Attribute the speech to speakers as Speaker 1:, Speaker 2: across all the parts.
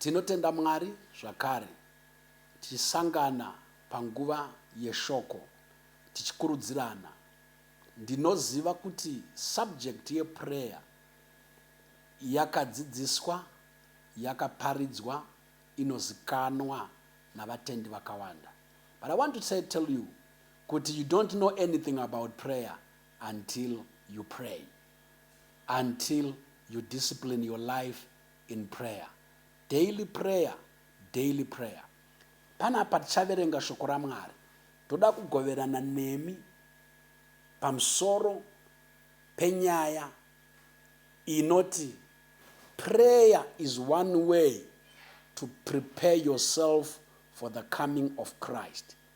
Speaker 1: Tinotenda Mwari zvakare tichisangana panguva yeshoko tichikurudzirana. Ndinoziva kuti subject yeprayer yakadzidziswa, yakaparidzwa, inozikanwa navatendi vakawanda. But I want to say, tell you kuti you don't know anything about prayer until you pray, until you discipline your life in prayer. Daily prayer, daily prayer. Panapa tichaverenga shoko raMwari. Toda kugoverana nemi pamusoro penyaya inoti prayer is one way to prepare yourself for the coming of Christ.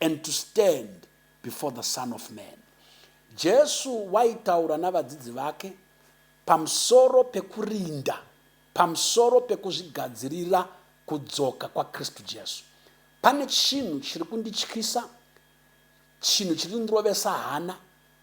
Speaker 1: and to stand before the Son of Man. Jesu waitaura navadzidzi vake pamusoro pekurinda, pamusoro pekuzvigadzirira kudzoka kwaKristu Jesu. Pane chinhu chiri kundityisa, chinhu chiri kundirovesa hana,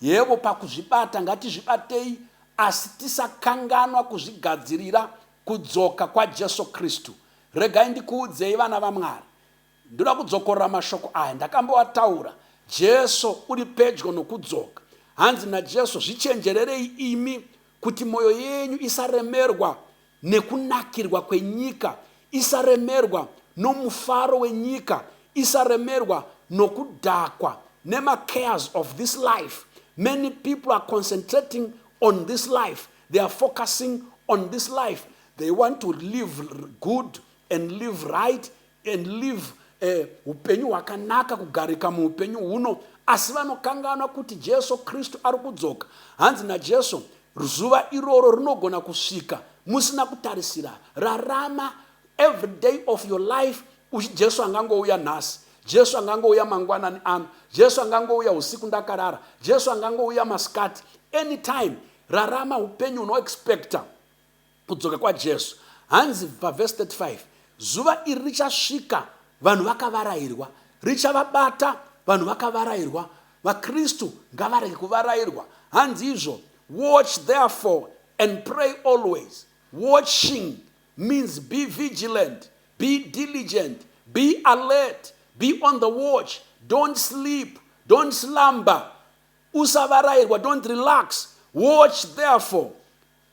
Speaker 1: Yebo, pakuzvibata ngatizvibatei, asi tisakanganwa kuzvigadzirira kudzoka kwaJesu Kristu. Regai ndikuudzei, vana vaMwari, ndoda kudzokorora mashoko aya, ndakamboataura, Jesu uri pedyo nokudzoka. Hanzi naJesu, Zvichenjererei imi kuti moyo yenyu isaremerwa nekunakirwa kwenyika, isaremerwa nomufaro wenyika, isaremerwa nokudhakwa nemacares of this life. Many people are concentrating on this life, they are focusing on this life, they want to live good and live right and live a upenyu hwakanaka kugarika muupenyu huno asi vanokanganwa kuti Jesu Kristu ari kudzoka hanzi naJesu zuva iroro rinogona kusvika musina kutarisira rarama every day of your life uchi Jesu angangouya nhasi Jesu angangouya mangwanani ano Jesu angangouya usiku ndakarara Jesu angangouya masikati anytime rarama upenyu unoexpecta Kudzoka kwaJesu. Hanzi pavhesi 35, Zuva iri richasvika vanhu vakavarairwa, richavabata vanhu vakavarairwa. VaKristu ngavarege kuvarairwa. Hanzi izvo, Watch therefore and pray always. Watching means be vigilant, be diligent, be alert, be on the watch, don't sleep, don't slumber. Usavarairwa, don't relax. Watch therefore.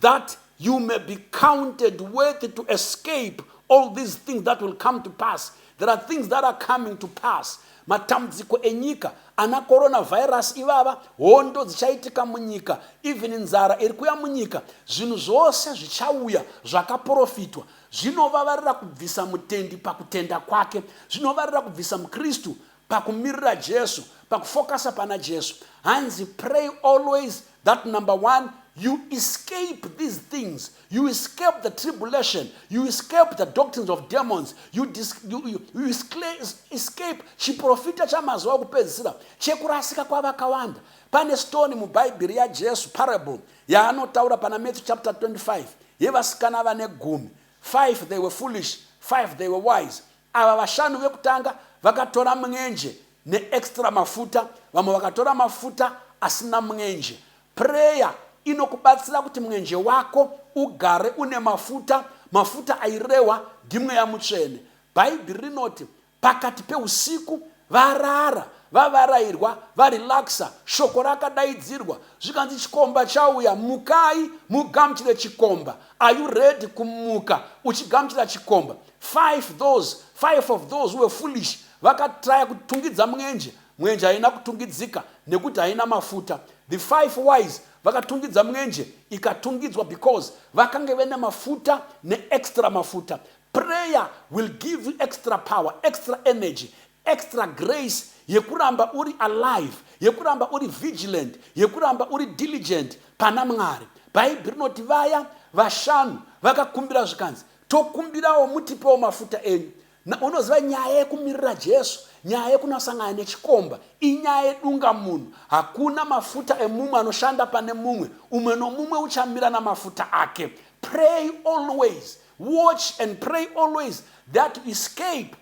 Speaker 1: that you may be counted worthy to escape all these things that will come to pass there are things that are coming to pass matambudziko enyika ana coronavirus ivava hondo dzichaitika munyika even nzara iri kuya munyika zvinhu zvose zvichauya zvakaprofitwa zvinovavarira kubvisa mutendi pakutenda kwake zvinovarira kubvisa mukristu pakumirira Jesu, pakufokasa pana Jesu. Hanzi pray always that number one you escape these things you escape the tribulation you escape the doctrines of demons you, dis, you, you, you escape chiprofita chamazuva okupedzisira chekurasika kwavakawanda pane stoni mubhaibheri yajesu parable yaanotaura pana matthew chapter 25 yevasikana vane gumi five they were foolish five they were wise Ava vashanu vekutanga vakatora mwenje ne extra mafuta vamwe vakatora mafuta asina mwenje. Prayer inokubatsira kuti mwenje wako ugare une mafuta, mafuta airehwa ndiMweya Mutsvene. Bhaibhiri rinoti pakati peusiku varara, vavarairwa, varelaxer, shoko rakadaidzirwa zvikanzi chikomba chauya, mukai mugamuchire chikomba. Are you ready kumuka uchigamuchira chikomba? Five those, five of those were foolish vakatraya kutungidza mwenje, mwenje haina kutungidzika nekuti haina mafuta. The five wise vakatungidza mwenje ikatungidzwa because vakange vene mafuta neextra mafuta. Prayer will give you extra power, extra energy, extra grace yekuramba uri alive, yekuramba uri vigilant, yekuramba uri diligent pana Mwari. Bhaibheri rinoti vaya vashanu vakakumbira zvikanzi Tokumbirawo mutipewo mafuta enyu. Na, unoziva nyaya yekumirira Jesu, nyaya yekunasangana nechikomba, inyaya yedunga munhu. Hakuna mafuta emumwe anoshanda pane mumwe. Umwe nomumwe uchamira namafuta ake. Pray always. Watch and pray always that you escape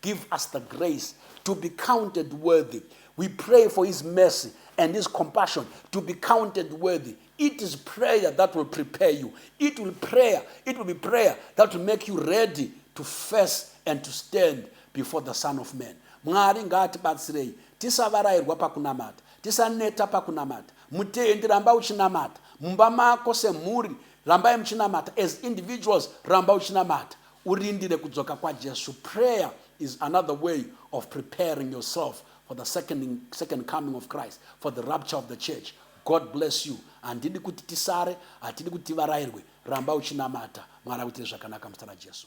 Speaker 1: Give us the grace to be counted worthy. We pray for His mercy and His compassion to be counted worthy. It is prayer that will prepare you. It will prayer. It will be prayer that will make you ready to face and to stand before the Son of Man. Mwari ngaatibatsirei tisavarairwa pakunamata tisaneta pakunamata mutendi ramba uchinamata mumba mako semhuri rambai muchinamata as individuals ramba uchinamata urindire kudzoka kwaJesu. Prayer is another way of preparing yourself for the second, second coming of Christ, for the rapture of the church. God bless you. Handidi kuti tisare, hatidi kuti tivarairwe. Ramba uchinamata. Mwari akuitire zvakanaka muzita raJesu.